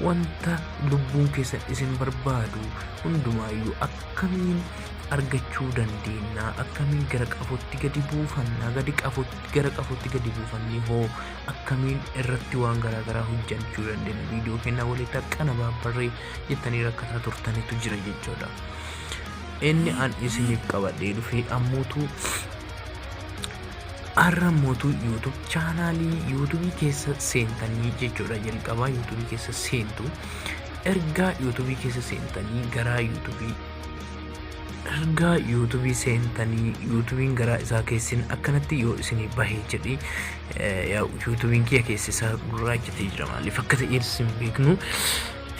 wanta lubbuun keessan isin barbaadu hundumaayyuu akkamiin argachuu dandeenya akkamiin gara qafootti gadi buufannaa gadi qafootti gara qafootti gadi buufannee hoo akkamiin irratti waan garaagaraa hojjechuu dandeenya viidiyoo kennaa walitti akkana baabbarree jettanii rakkataa turtanitu jira jechuudha. Inni an isiniif qabadhee dhufee ammuutu Har'a mootu YouTube chaanaalii YouTube keessa seentanii jechuudha jalqabaa YouTube keessa seentu ergaa YouTube keessa seentanii garaa YouTube ergaa YouTube seentanii YouTubein garaa isaa keessin akkanatti yoo isinii bahe jedhi eh, yaa YouTubein kiyya keessa isaa gurraachatti jira maaliif akka ta'e isin beeknu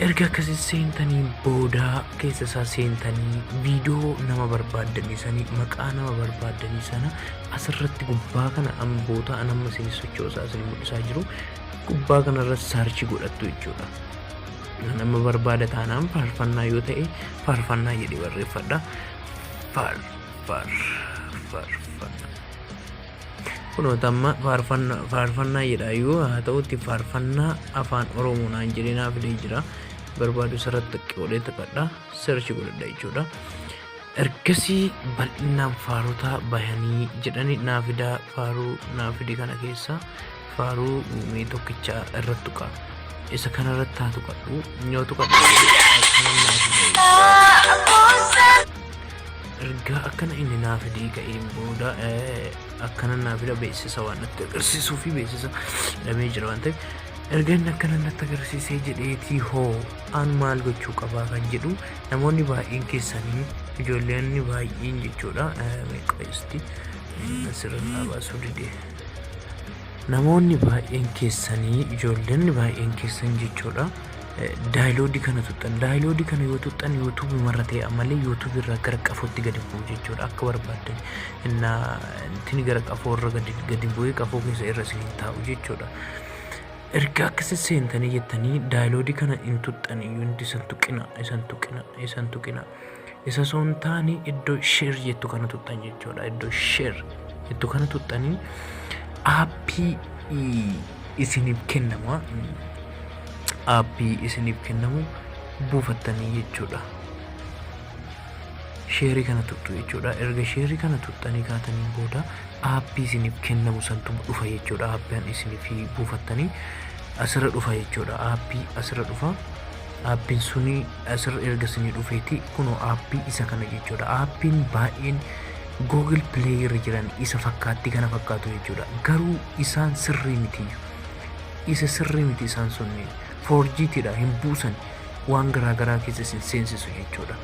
erga akkasi seentanii booda keessa isaa seentanii viidiyoo nama barbaaddanii sanii maqaa nama barbaaddanii sana asirratti gubbaa kana amma bootaa an amma isin sochoosaa isin mul'isaa jiru gubbaa kanarra saarchi godhattu jechuudha. Nama barbaada taanaan faarfannaa yoo ta'e faarfannaa jedhee barreeffadha. Faar faar faarfannaa. Kunoo tamma faarfannaa faarfannaa jedha yoo haa ta'utti faarfannaa afaan oromoo naan jedhee naa fidee jira barbaadu sarratti qoodhee taphadha search godhadha jechuudha. Ergasii bal'inaan faarotaa bahanii jedhani naa fidaa faaruu naa fide kana keessaa faaruu mee tokkicha irratti tuqa isa kana irratti haa tuqadhu yoo tuqadhu ergaa akkana inni naa fidee ka'een booda eh, akkana naa fida beeksisa waan natti agarsiisuu fi beeksisa dhabee jira waan ta'eef erga inni akkana natti agarsiisee jedheetii hoo aan maal gochuu qabaa kan jedhu namoonni baay'een keessanii ijoolleen baay'een jechuudha eh, meeqa isti asirra naa baasuu didee. Namoonni baay'een keessanii ijoollonni baay'een keessan jechuudha. Daayiloodii kana tuxxan. Daayiloodii kana yoo tuxxan yuutuubii marra ta'e ammallee yuutuubii irraa gara qafootti gadi bu'u jechuudha akka barbaaddan. Inna tini gara qafoo irra gadi gadi bu'ee qafoo keessa irra isin hin taa'u jechuudha. Erga akka isin seentanii jettanii daayiloodii kana hin tuxxan iyyuu isan tuqina isan tuqina isan tuqina. Isa osoo hin taane iddoo share jettu kana tuqxan jechuudha. Iddoo share jettu kana tuqxanii aappii isiniif kennama. Aappii isiniif kennamu buufattanii jechuudha. Sheerii kana tuqxu jechuudha. Erga sheerii kana tuqxanii kaataniin booda aappii isiniif kennamu santu dhufa jechuudha. Aappiin isiniif buufattanii asirra dhufa jechuudha. Aappii asirra dhufa. Aappiin suni asirra erga isinii dhufeeti kunoo aappii isa kana jechuudha. Aappiin baay'een Google Play irra jiran isa fakkaatti kana fakkaatu jechuudha. Garuu isaan sirrii miti. Isa sirrii miti isaan sunni. Foorjiitidha hin buusan waan garaa garaa keessa isin seensisu jechuudha.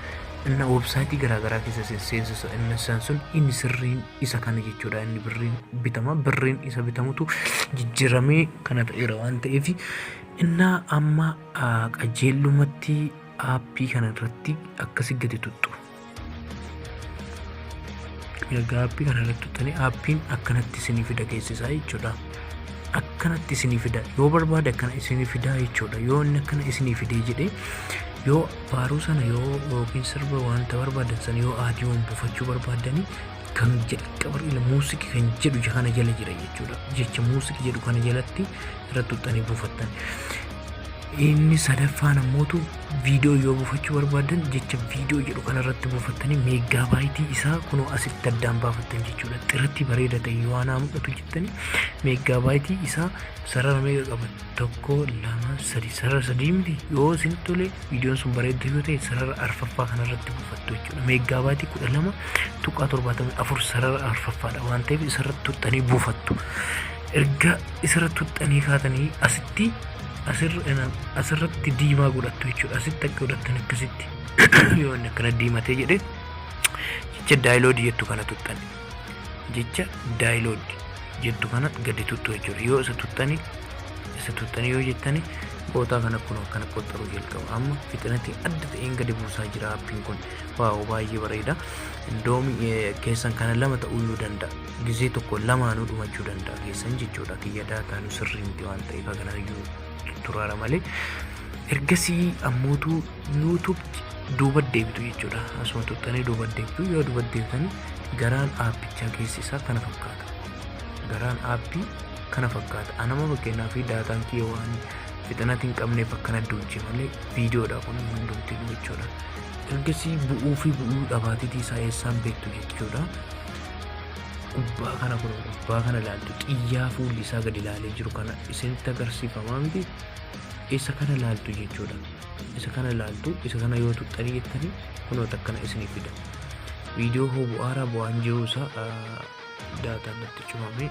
Inna websaayitii garaa garaa keessa isin seensisu inni isaan sun inni sirriin isa kana jechuudha. Inni birriin bitama birriin isa bitamutu jijjiiramee kana ta'eera waan ta'eef innaa amma Qajeellumatti aappii kana irratti akkasi gadi tuttu. Erga aappii kana irratti tuttanii aappiin akkanatti isinii fida geessisaa jechuudha. Akkanatti isinii fida yoo barbaade akkana isinii fidaa jechuudha. Yoo inni akkana isinii fidee jedhee yoo faaruu sana yoo yookiin sirba wanta barbaadan sana yoo aadiyoon buufachuu barbaadanii kan jalqaba ila muusikii kan jedhu kana jala jira jechuudha. Jecha muusikii jedhu kana jalatti irratti tuttanii buufattan. Inni sadaffaan ammootu viidiyoo yoo buufachuu barbaadan jecha viidiyoo jedhu kanarratti buufattanii meeggaa baayitii isaa kunoo asitti addaan baafattan jechuudha. Xiratti bareeda ta'e yoo anaa mul'atu jettanii meeggaa baayitii isaa sarara meeqa qaba? Tokko, lama, sadi. Sarara sadii miti yoo isin tole viidiyoon sun bareedda yoo ta'e sarara arfaffaa kanarratti buufattu jechuudha. Meeggaa baayitii kudha lama tuqaa torbaatamii afur sarara arfaffaadha waan ta'eef isarratti tuqxanii buufattu. erga isirra tuxxanii kaatanii asitti asirratti diimaa godhattu jechuudha asitti akka godhattan akkasitti yoo inni akkana diimatee jedhe jecha daayiloodi jettu kana tuxxan jecha daayiloodi jettu kana gadi tuttu jechuudha yoo isa tuxxanii isa tuxxanii yoo jettanii bootaa kana kun akkana qoxxaruu jalqaba amma fixinatii adda ta'een gadi buusaa jira appiin kun waaw baay'ee bareeda doomii keessan kana lama ta'uu yoo danda'a gizee tokko lamaanuu dhumachuu danda'a keessan jechuudha kiyya daataanuu sirrii miti waan ta'eef hagan arginu turaara malee ergasii ammootu yuutuub duuba deebitu jechuudha asuma tuttanii duuba deebitu yoo duuba deebitanii garaan aappichaa keessi isaa kana fakkaata garaan aappii kana fakkaata anama fakkeenyaa fi daataan kiyya waan fixinati hin qabneef akkana duuche malee viidiyoodha kun hundumti jechuudha ergasii bu'uu fi bu'uu dhabaatitii isaa eessaan beektu jechuudha gubbaa kana kun gubbaa kana ilaaltu xiyyaa fuulli isaa gadi ilaalee jiru kana isinitti agarsiifamaa miti isa kana ilaaltu jechuudha isa kana ilaaltu isa kana yoo tuqxanii jettanii kunoota akkana isiniif fida viidiyoo hoo bu'aaraa bu'aan jiruu isaa daataan natti cufamee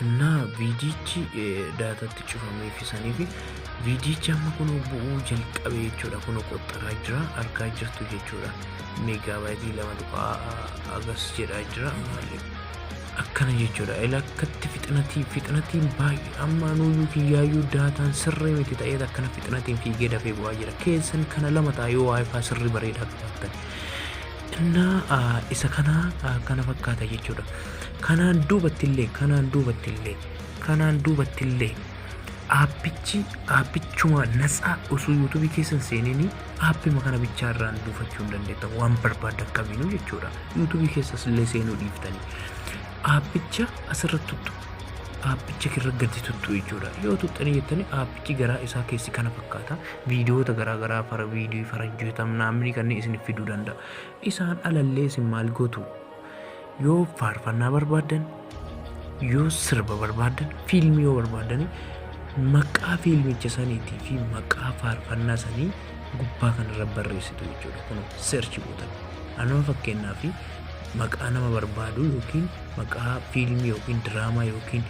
Innaa viidiyichi daataatti cufamee fi sanii fi viidiyichi amma kun bu'uu jalqabe jechuudha kun qoxxaraa jira argaa jirtu jechuudha meegaabaayitii lama tuqaa agas jedhaa jira maaliif akkana jechuudha ilakkatti fixinatii fixinatiin baay'ee amma nuyyuu kiyyaayyuu daataan sirrii miti ta'eet akkana fixinatiin fiigee dafee bu'aa jira keessan kana lama taa'ee waayifaa sirrii bareedaa qabaatan xinnaa isa kanaa kana fakkaata jechuudha kanaan duubattillee kanaan duubattillee kanaan duubattillee aappichi aappichuma natsaa osoo yuutuubii keessan seenini aappima kana bichaa irraan buufachuu hin dandeetta waan barbaaddan kamiinuu jechuudha yuutuubii keessas illee seenuu dhiiftanii aappicha asirratti tuttu aappicha irra gadi tuttu jechuudha yoo tuttanii jettanii aappichi garaa isaa keessi kana fakkaata Viidiyoota garaa garaa fara viidiyoo faranjootaa mnaamnii kanneen isinif fiduu danda'a. Isaan alallee isin maal gootu? Yoo faarfannaa barbaaddan, yoo sirba barbaaddan, fiilmii yoo barbaaddan maqaa fiilmicha saniitii fi maqaa faarfannaa sanii gubbaa kanarra barreessitu jechuudha. Kun seerchi gootan. Anuma fakkeenyaa fi maqaa nama barbaadu yookiin maqaa fiilmii yookiin diraamaa yookiin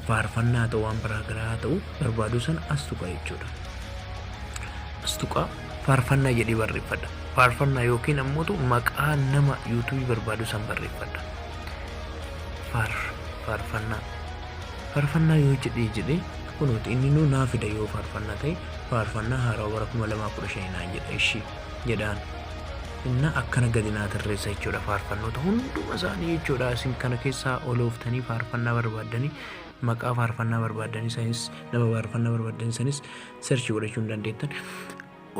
faarfannaa haa ta'u waan biraa garaa haa ta'u barbaadu sana as tuqa jechuudha. As tuqa faarfannaa jedhee barreeffadha. Faarfannaa yookiin ammoo maqaa nama yuutuubii barbaadu san barreeffadha. Faar faarfannaa faarfannaa yoo jedhee jedhee kunuuti inni nuu naa fida yoo faarfannaa ta'e faarfannaa haaraa bara kuma lamaa kudha shanii naan jedha ishii jedhaan. Inna akkana gadi naa tarreessa jechuudha faarfannoota hunduma isaanii jechuudha isin kana keessaa olooftanii faarfannaa barbaaddanii maqaa faarfannaa barbaaddan isanis nama faarfannaa barbaaddan isanis search godhachuu hin dandeettan.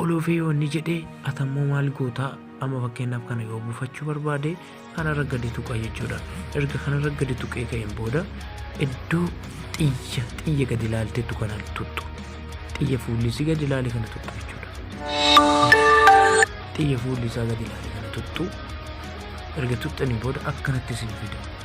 Olofee yoo inni jedhe atammoo maal gootaa amma fakkeenyaaf kana yoo buufachuu barbaade kanarra gadi tuqa jechuudha. Erga kanarra gadi tuqee ka'een booda iddoo xiyya xiyya gadi ilaalteetu kana tuttu. Xiyya fuulli isii gadi ilaale kana tuttu jechuudha. Xiyya fuulli isaa gadi ilaale kana tuttu. Erga tuttanii booda akkanatti isin fida.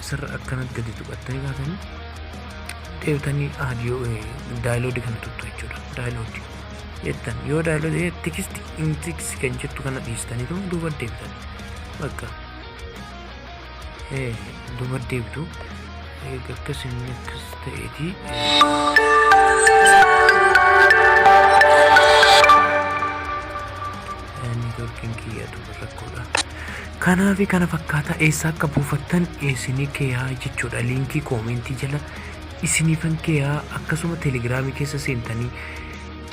Isarra akkanatti gadi tuqattanii kaatanii deebitanii aadiyoo daayiloodii kana tuttu jechuudha. Daayiloodii jettan yoo daayiloodii tikisti hin tikisi kan jettu kana dhiistanii too duuba deebitan. Bakka duuba deebitu akkas inni akkas ta'eetii. Kanaa fi kana fakkaataa eessaa akka buufattan isinii keeyaa jechuudha liinkii koomentii jala isiniifan keeyaa akkasuma telegiraamii keessa seentanii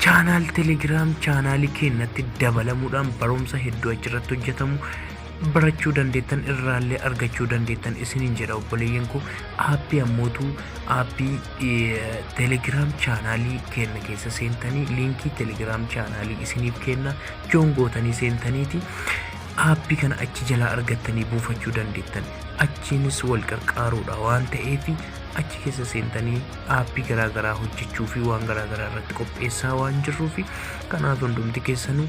chaanaal telegiraam chaanaalii keennatti dabalamuudhaan barumsa hedduu achirratti hojjetamu barachuu dandeettan irraallee argachuu dandeettan isiniin jedha obboleeyyan koo aappii ammootu aappii telegiraam chaanaalii keenna keessa seentanii liinkii telegiraam chaanaalii isiniif keenna joon gootanii seentaniiti Aappi kana achi jalaa argattanii buufachuu dandeettan. Achiinis wal qarqaaruudha waan ta'eef achi keessa seentanii aappii garaa garaa hojjechuu fi waan garaa garaa irratti qopheessaa waan jirruuf kanaaf hundumti keessanuu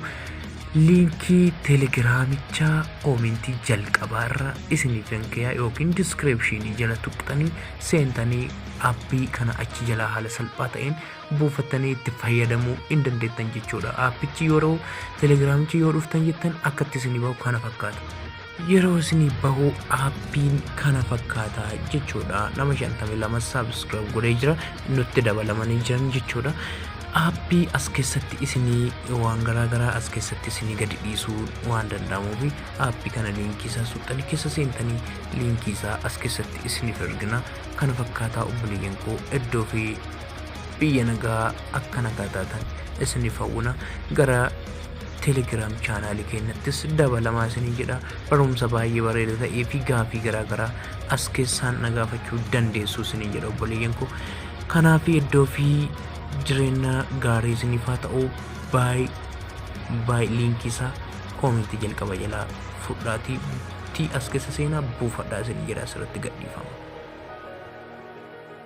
liinkii telegiraamichaa koomentii jalqabaa irra isiniif hin kayaa yookiin diskiripshinii jala tuqxanii seentanii appii kana achi jalaa haala salphaa ta'een buufattanii itti fayyadamuu hin dandeettan jechuudha. Aappichi yeroo telegiraamichi yoo dhuftan jettan akkatti isinii bahu kana fakkaata. Yeroo isinii bahu aappiin kana fakkaata jechuudha. Nama 52 saabskiraayib godhee jira nutti dabalamanii jiran jechuudha. Aappii as keessatti isinii waan garaa garaa as keessatti isinii gadi dhiisuu waan danda'amuuf aappii kana liinkii isaa suuxxanii keessa seentanii liinkii isaa as keessatti isiniif ergina kana fakkaataa obboleeyyan koo iddoo fi biyya nagaa akka nagaa taatan isiniif hawwina gara telegiraam chaanaalii keenyattis dabalamaa isinii jedha barumsa baay'ee bareeda ta'ee fi gaafii garaagaraa as keessaan na gaafachuu dandeessu isinii jedha obboleeyyan koo kanaaf iddoo fi jireenya gaarii isiniif haa ta'u baay baay liinkii isaa koomentii jalqaba jalaa fudhaatii tii as keessa seenaa buufadhaa isinii jedha asirratti gadhiifama.